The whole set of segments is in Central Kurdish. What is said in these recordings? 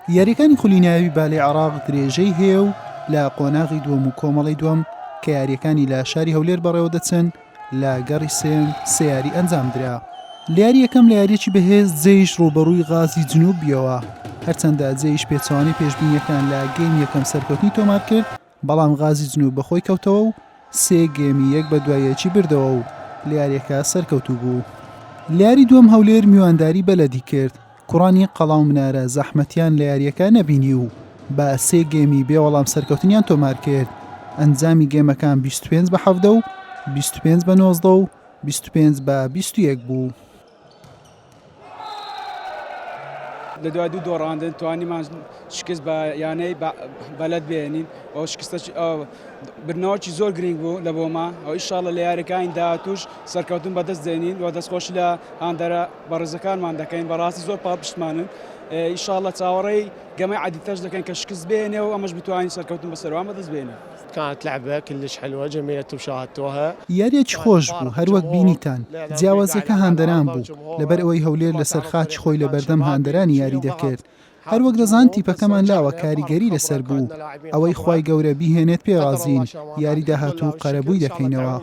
یاریەکانی خولی ناوی بالەی عراق درێژەی هەیە و لە قۆناغی دووەم و کۆمەڵی دووەم کە یاریەکانی لە شاری هەولێر بەڕێوە دەچن لە گەڕی سێن سیاری ئەنجام درا لیاری یەکەم لە یاریی بەهێز جێیش ڕوبەڕووی غازی جنوبیەوە هەرچەندە جێیش پێچوانی پێشببینیەکان لە گەیم یەکەم سەرکەوتنی تۆمار کرد بەڵام غازی جنوب بەخۆی کەوتەوە و سێ گێمی یەک بە دوای یەکی بردەوە و لە یاریەکە سەرکەوتوو بوو. لەیاری دووەم هەولێر میوانداری بەلەدی کرد، کوڕانی قەڵاو منارە زەحمەتیان لە یاریەکە نەبینی و بە سێ گێمی بێ وەڵام سەرکەوتنیان تۆمار کرد، ئەنجامی گێمەکان بیست و پێنج بە حەڤدە و بیست و پێنج بە نۆزدە و بیست و پێنج بە بیست و یەک بوو. لە دوای دوو دۆڕاندن توانیمان شکست بە یانەی بەلەت بێنین ئەو شکستە برنەوەکی زۆر گرنگ بوو لە بۆما ئەو ئیشاڵە لە یاریەکانی داهاتوش سەرکەوتن بەدەست دێنین و دەستخۆش لە هاندەرە بەڕێزەکانمان دەکەین بەڕاستی زۆر پاڵپشتمانن ئیشاڵە چاوەڕێی گەمە عادیتەش دەکەن کە شکست بێنێ و ئەمەش بتوانین سەرکەوتن بەسەروان بەدەست بێنین. كانت لعبه كلش حلوه جميله وشاهدتوها. یاریەکی خۆش بوو هەر وەک بینیتان جیاوازیەکە هاندەران بوو لەبەر ئەوەی هەولێر لەسەر خاکی خۆی لەبەردەم هاندەرانی یاری دەکرد هەر وەک دەزان تیپەکەمان لاوە کاریگەری لەسەر بوو ئەوەی خوای گەورە بیهێنێت پێ رازین یاری داهاتوو قەرەبووی دەکەینەوە.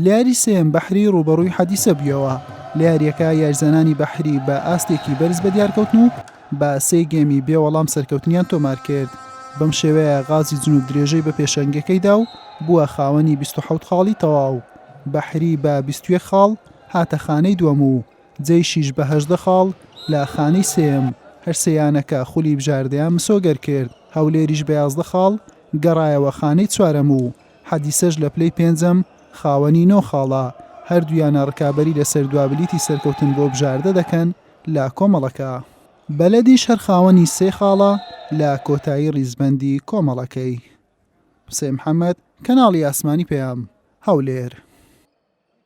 لەیاری سێیەم بەحری ڕوبەڕووی حەدیسە بوویەوە لە یاریەکە یارزانانی بەحری بە ئاستێکی بەرز بە دیارکەوتن و بە سێ گەمی بێ وەڵام سەرکەوتنیان تۆمار کرد بەم شێوەیە غازی جنوب درێژەی بە پێشەنگەکەیدا و بووە خاوەنی 26 خاڵی تەواو بەحری بە 21 خاڵ هاتە خانەی دووەم و جەیشیش بە هەژدە خاڵ لە خانەی سێم هەرسیانەکە خولی بژاردەیان مسۆگەر کرد هەولێریش بە یازدە خاڵ گەڕایەوە خانەی چوارەم و حەدیسەش لە پلەی پێنجەم خاوەنی نۆ خاڵە، هەردوویانە رکابەری لەسەر دوا بلیتی سەرکەوتن بۆ بژاردە دەکەن لە کۆمەڵەکە. بەلەدیش هەر خاوەنی سێ خاڵە لە کۆتایی ریزبەندی کۆمەڵەکەی. قسەی محەمەد، کەناڵی ئاسمانی پەیام، هەولێر.